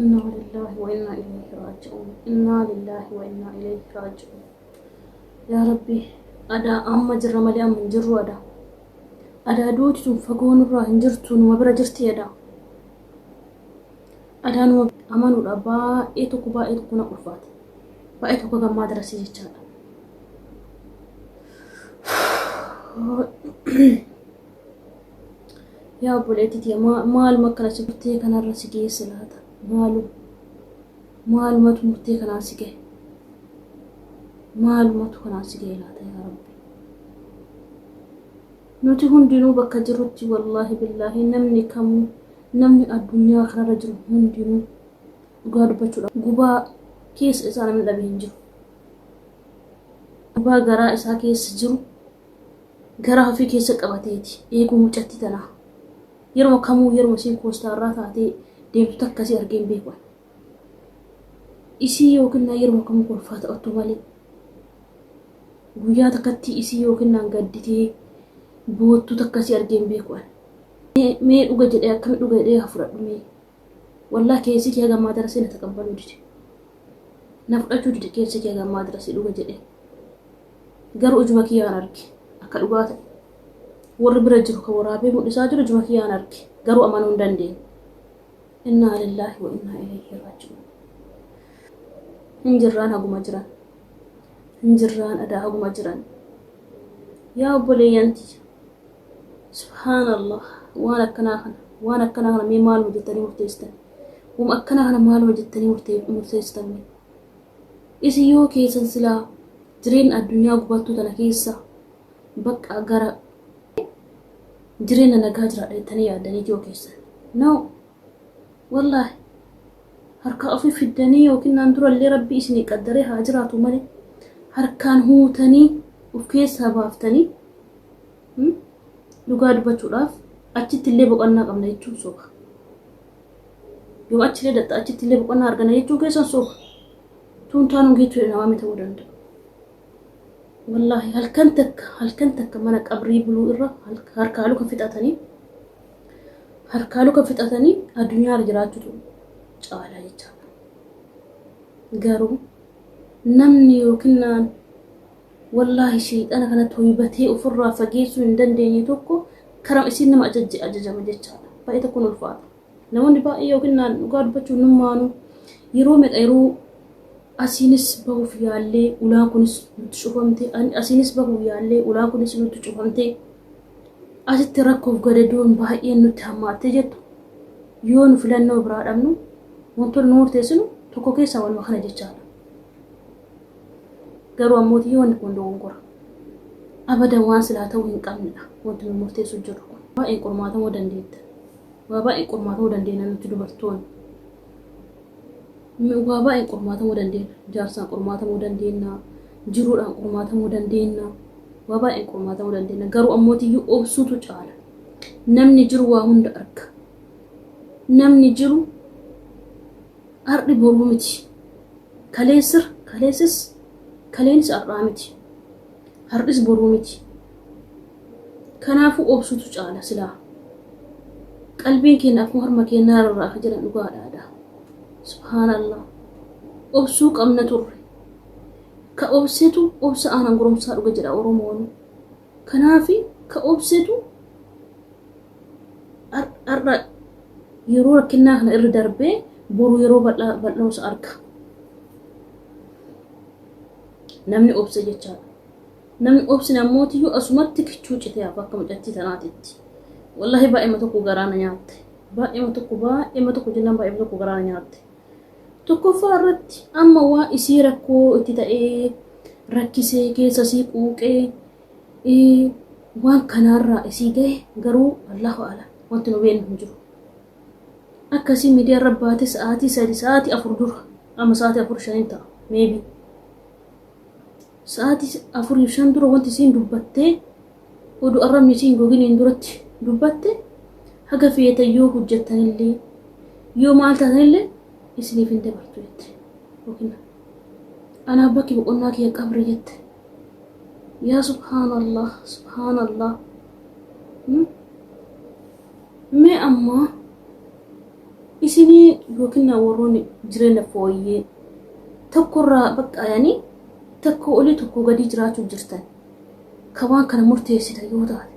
Innaa lillaahi wa innaa ilayhi raaji'uun. Innaa lillaahi wa innaa ilayhi raaji'uun. Yaa Rabbi, adaa amma jirra malee amma hin jirru adaa. Adaa duuti sun fagoo nurraa hin jirtu numa bira jirti adaa. Adaa numa amanuudha baay'ee tokko baay'ee tokko na ulfaate. Baay'ee tokko gammaa darasii jechaadha. Yaa obboleetti tiyya maaluma akkana si murtee kanarra si geesse laata? Maalu maalumatu murtee kanaan si gahe? Maalumatu kanaan si gahe laata yaa Rabbi? Nuti hundinuu bakka jirrutti wallaahi billaahi namni kamuu namni addunyaa kanarra jiru hundinuu dhugaa dubbachuudhaaf gubaa keessa isaa namni dhabe hin jiru. Gubaa garaa isaa keessa jiru garaa ufii keessa qabateeti eeguu mucatti tanaa. Yeruma kamuu yeruma isiin koostaarraa taatee deemtu takka isii argee hin beeku ani. Isii yookinnaan yeruma kamuu kolfaa taphattu malee guyyaa takkatti isii yookinnaan gadditee boottu takka isii argee hin beeku ani. Mee dhuga jedhee akkami dhuga jedhee haa fudhadhu mee. Wallah keessi kee haga ammaa darasee na taqabbaluu dide. Na fudhachuu dide keessi kee haga ammaa darasee dhuga jedhee. Garuu ijuma kiyyaan arge akka dhugaa ta'e. Warri bira jiru kan waraabee mul'isaa jiru ijuma kiyyaan arge. Garuu amanuu hin dandeenye. Innaa lillaahi wa innaa ilayhi raaji'uun. Hin jirraan haguma jiran. Hin jirraan adaa haguma jiran. Yaa obboleeyyan tiyya. Subhaana Allah waan akkanaa kana waan akkanaa kana mee maaluma jettanii murteessitan wama akkanaa kana maaluma jettanii murtee- murteessitan mee isin yoo keessan silaa jireenya addunyaa gubattuu tana keessa bakka gara jireenya nagaa jiraadha jettanii yaaddanii yoo keessan no wallaahi harkaa ofii fiddanii yookiin naan durallee rabbi isinii qaddaree haa jiraatu malee harkaan huutanii of keessaa baaftanii Dhugaa dubbachuudhaaf achitti illee boqannaa qabna jechuun soba. Yoo achi illee dhaxxa achitti illee boqannaa argana jechuun keessan soba. Tuun taanuun geechuudha namaa miti ta'uu danda'a. Wallaahi halkan takka halkan takka mana qabrii buluu irra harkaa luka fixatanii harkaa luka fixatanii addunyaa irra jiraachuutu caalaa jechaadha. Garuu namni yookiin Wallaahi sheyxana kana toybatee ufirraa fageessuu hin dandeenye tokko karama isiin nama ajajje ajajama jechaadha. Baay'ee tokkon ulfaata. Namoonni baay'ee yookiin naan dhugaa dubbachuuf nummaanuu yeroo meqa yeroo asiinis bahuuf yaallee ulaan kunis nutti cufamte ani asiinis bahuuf yaallee ulaan kunis nutti cufamte asitti rakkoof gadadoon baay'een nutti hammaattee jettu yoo nu filannoo biraa dhabnu wantoonni nu murteessinu tokko keessaa wanuma kana jechaadha. Garuu ammootii wanni kun dogongora. Abadan waan silaa ta'uu hin qabnedha wanti nu murteessu jirru kun. Baay'een qormaatamuu dandeetta. Waa baay'een qormaatamuu dandeenya nuti dubartoonni. Waa baay'een qormaatamuu dandeenya. Jaarsaan qormaatamuu dandeenya. Jiruudhaan qormaatamuu dandeenya. Waa baay'een qormaatamuu dandeenya. Garuu ammootiyyuu obsuutu caala. Namni jiru waa hunda arga. Namni jiru Ar'i boruu miti. Kaleessr kaleessis kaleenis ar'aa miti. Har'is boruu miti. Kanaafuu obsutu caala silaa. Qalbiin keenna akkuma harma keennaa rarraafa jedhan dhugaadha adaa. Subhaanallah. Obsuu qabna turre. Ka obsetu obsa aanan goromsaa dhuga jedha Oromoon. Kanaafi ka obsetu har'a yeroo rakkinnaa kana irra darbee boru yeroo bal'oos arga. Namni obse jechaadha. Namni obsine ammootiyyuu asumatti kichuu citee hafa akka mucattii tanaatitti. Wallahi baay'eema tokko garaa na nyaatte. Baay'eema tokko baay'eema tokko jennaan baay'eema tokko garaa na nyaatte. Tokkoffaa irratti amma waa isii rakkoo itti ta'ee rakkisee keessa isii quuqee ii, waan kanaarraa isii gahe garuu Allaahu A'lam wanti nu beennu hin jiru. Akka isiin miidiyaa irra baate sa'aatii sadi sa'aatii afur dura amma sa'aatii afur shan hin ta'a maybe. Sa'aatii afuriif shan dura wanti isiin dubbattee oduu arrabni isii hin goginiin duratti dubbatte haga feetan yoo hojjattanillee yoo maal taatanillee isiniif hin dabartu jette. Yookiin anaaf bakki boqonnaa kiyya qabri jette. Yaa subhaanallah subhaanallah. Hmm? Mee ammaa isinii yookiin warroonni jireenya fooyyee tokkorraa baqqaayanii Tokkoo olii tokkoo gadii jiraachuuf jirtan kan waan kana murteessitan yoo taate,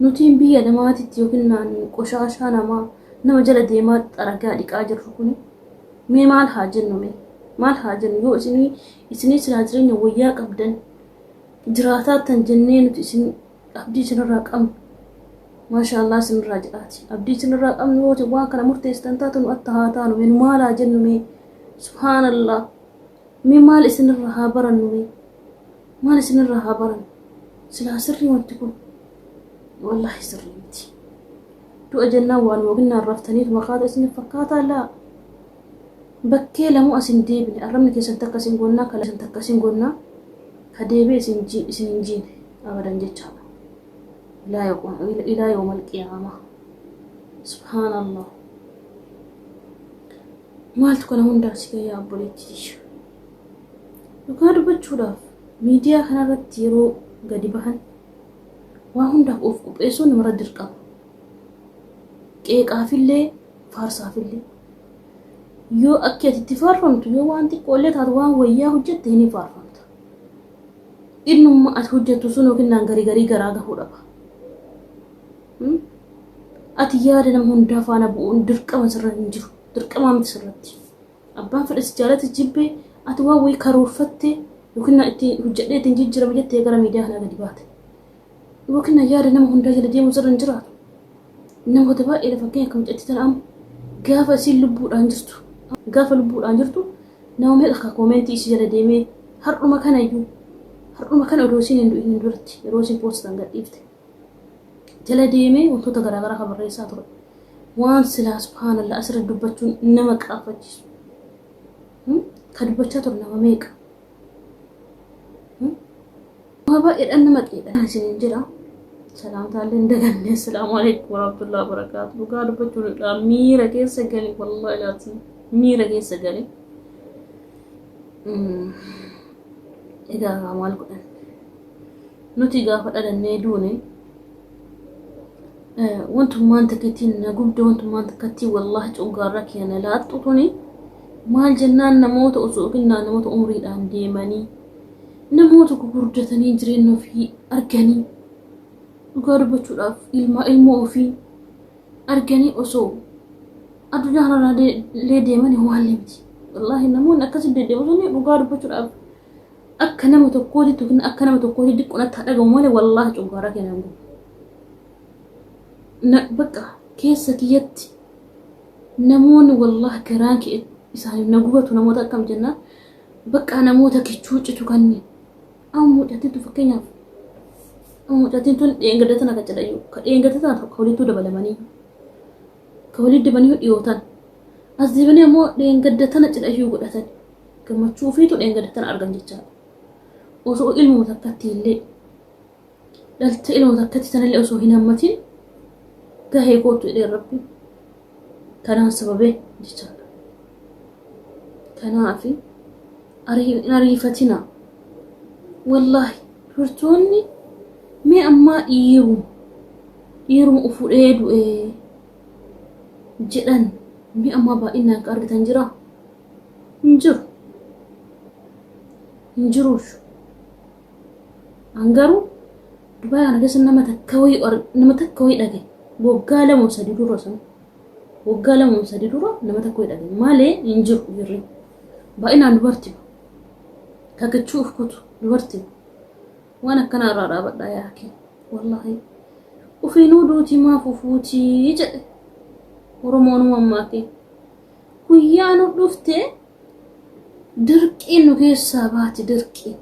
nutiin biyya namaatitti yookiin naannu qoshaashaa namaa nama jala deemaa xaragaa dhiqaa jirru kuni mee maal haa jennu mee? Maal haa jennu yoo isinii isinii silaa jireenya wayyaa qabdan jiraataattan jennee nuti isin abdii isinirraa qabnu maashaallah isinirraa jedhaati abdii isinirraa qabnu yoo isin waan kana murteessitan taate nu atta haa taanu mee nu maal haa jennu mee subhaanallah Mee maal isinirraa haa barannu mee? Maal isinirraa haa barannu? Silaa sirrii wanti kun? Wallaahi sirrii miti. Du'a jennaan waanuma ginnaan raftaniituma kaata isin fakkaataa laa? Bakkee lamuu as hin deebine arrabni keessan takka isin gonnaa ka keessan takka isin gonnaa ka deebi'e isin ji isin hin jiine abadan jechaadha. Ilaa yoqum ilaa yoomal qiyaamaa. Subhaanallah. Maaltu kana hundaa si gahe yaa obboleetti tiyya? Dhugaa dubbachuudhaaf miidiyaa kanarratti yeroo gadi bahan waa hundaaf of qopheessuun namarra dirqama. Qeeqaafillee faarsaafillee. Yoo akki ati itti faarfamtu yoo waan xiqqoollee taatu waan wayyaa hojjette hin faarfamta. Innumma ati hojjettu sun yookiin naan garii garii garaa gahuu dhaba. Ati yaada nama hundaa faana bu'uun dirqama sirra hin jiru. Dirqamaa miti sirratti. Abbaan fedhe si jaalate jibbe ati waan wayii karoorfatte yookiin na itti hojjedhee ittiin jijjiirame jettee gara miidiyaa kanaa gadi baate. Yookiin na yaada nama hundaa jala deemuu sirra hin jiraatu. Namoota baay'eedha fakkeenya akka mucattii tana amma gaafa isiin lubbuudhaan jirtu gaafa lubbuudhaan jirtu nama meeqa akka koomeentii isii jala deemee har'uma kana iyyuu har'uma kana odoo isiin hin du'in hin duratti yeroo isiin poostaan gadhiifte. jala deemee wantoota garaagaraa kan barreessaa ture. Waan silaa subhaanallah asirra dubbachuun nama qaanfachiisu. Hmm? Ka dubbachaa ture nama meeqa? Hmm? Waa baay'eedhaan nama qiidha. Kan isiniin jedha salaamtaallee hin daganne assalaamu alaikum warahmatullahi wabarakaatu dhugaa dubbachuun irraa miira keessa gale wallahi laatiin miira keessa gale. Mm. Egaa maal godhan? Nuti gaafa dhalannee duune wantummaan takkattiin na gubde wantummaan takkattiin wallaahi coggaarraa kiyya na laattu tuni maal jennaan namoota osoo yookiin namoota umriidhaan deemanii namoota gugurdatanii jireenya ofii arganii dhugaa dubbachuudhaaf ilmaa ilmoo ofii arganii osoo addunyaa kanarraa de- illee deemanii ho'aallee miti. Wallaahi namoonni akkasitti deddeemu sun dhugaa dubbachuudhaaf akka nama tokkooti yookiin akka nama tokkooti diqqoon akka dhagahu malee wallaahi cunqursaa keenya hin gubu. Na- Bakka keessa kiyyatti namoonni wallaahi garaan kee isaanii na gubatu namoota akkam jennaan bakka namoota kichuu citu kanneen Amma mucattiin tun fakkeenyaaf amma mucattiin tun dheengadda tana kan jedhayu ka dheengadda tana tokko walittuu dabalamanii ka walitti dabanii dhiyootan as deebanii ammoo dheengadda tana cidhayyuu godhatan gammachuu ofiitu dheengadda tana argan jechaadha. Osoo ilmuma takkatti illee dhaltee ilma takkatti sanallee osoo hin hammatin gahee kootu jedhee rabbi kanaan sababee jechaadha. Kanaafi ariifatina wallaahi dubartoonni mee ammaa dhiiru dhiiruma ufudhee du'ee jedhan mee ammaa baay'inaan akka argitan jira hin jiru hin jiruushu An garuu Dubai kana keessa nama takka wayii ar- nama takka wayii dhage waggaa lama sadi dura san waggaa lama sadi dura nama takka wayii dhage malee hin jiru jirri baay'inaan dubarti kakachuu of kutu dubarti waan akkanaa irraa dhaabadhaa yaa kee wallaahi ufiinuu duutii maaf ufuutii jedhe oromoonuma ammaa kee guyyaan dhufte Dirqiin nu keessaa baati dirqii.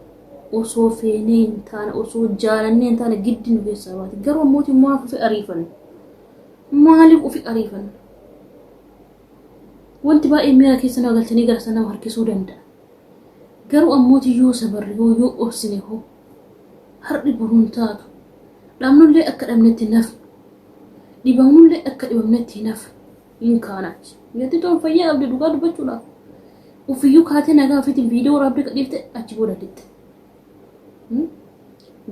Osoo feenee hin taane, osoo jaalannee hin taane giddi nu keessaa baati. Garuu ammooti maaf ufi ariifanna? Maaliif ufi ariifanna? Wanti baay'ee miira keessa nama galchanii gara sana nama harkisuu danda'a. Garuu ammooti yoo sabarre hoo yoo obsine hoo har'i boruun taatu. Dhabnullee akka dhabnetti hin hafnu. Dhibamnullee akka dhibamnetti hin hafnu. hin kaanaati. Yatti toon fayyaa qabdi dhugaa dubbachuudhaaf. Ufiyyuu kaatee nagaa ofiitiin viidiyoo waraabdee gadhiifte achi booda didde.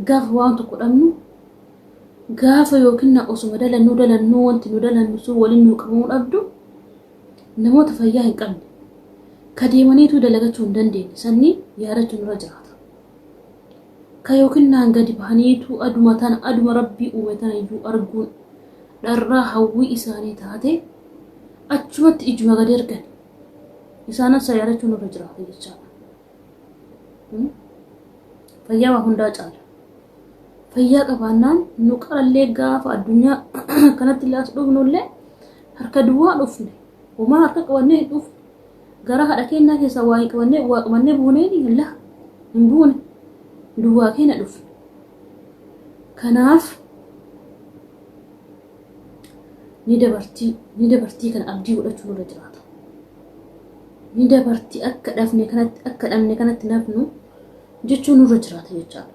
Gaafa waan tokko dhabnu gaafa yookiin na osuma dalannuu dalannuu wanti nu dalannu sun waliin nu qabamuu dhabdu namoota fayyaa hin qabne ka deemaniitu dalagachuu hin dandeenye sanni yaadachuun irra jiraata. Ka yookiin naan gadi bahaniitu aduma tana aduma rabbii uume tana iyyuu arguun dharraa hawwii isaanii taatee achumatti ijuma gad ergan isaanan sayaadachuu nurra jiraata jechaadha. Hmm? Fayyaa waa hundaa caala. Fayyaa qabaannaan nu qarallee gaafa addunyaa kanatti illee as dhufnullee harka duwwaa dhufne homaa harka qabannee hin dhufne gara haadha keenyaa keessaa waa hin qabannee waa qabannee buunee ni laa hin buune duwwaa keenya dhufne. Kanaaf ni dabartii ni dabartii kana abdii godhachuu nurra jiraata. Ni dabartii akka dhabne kanatti akka dhabne kanatti nafnu jechuun nurra jiraata jechaadha.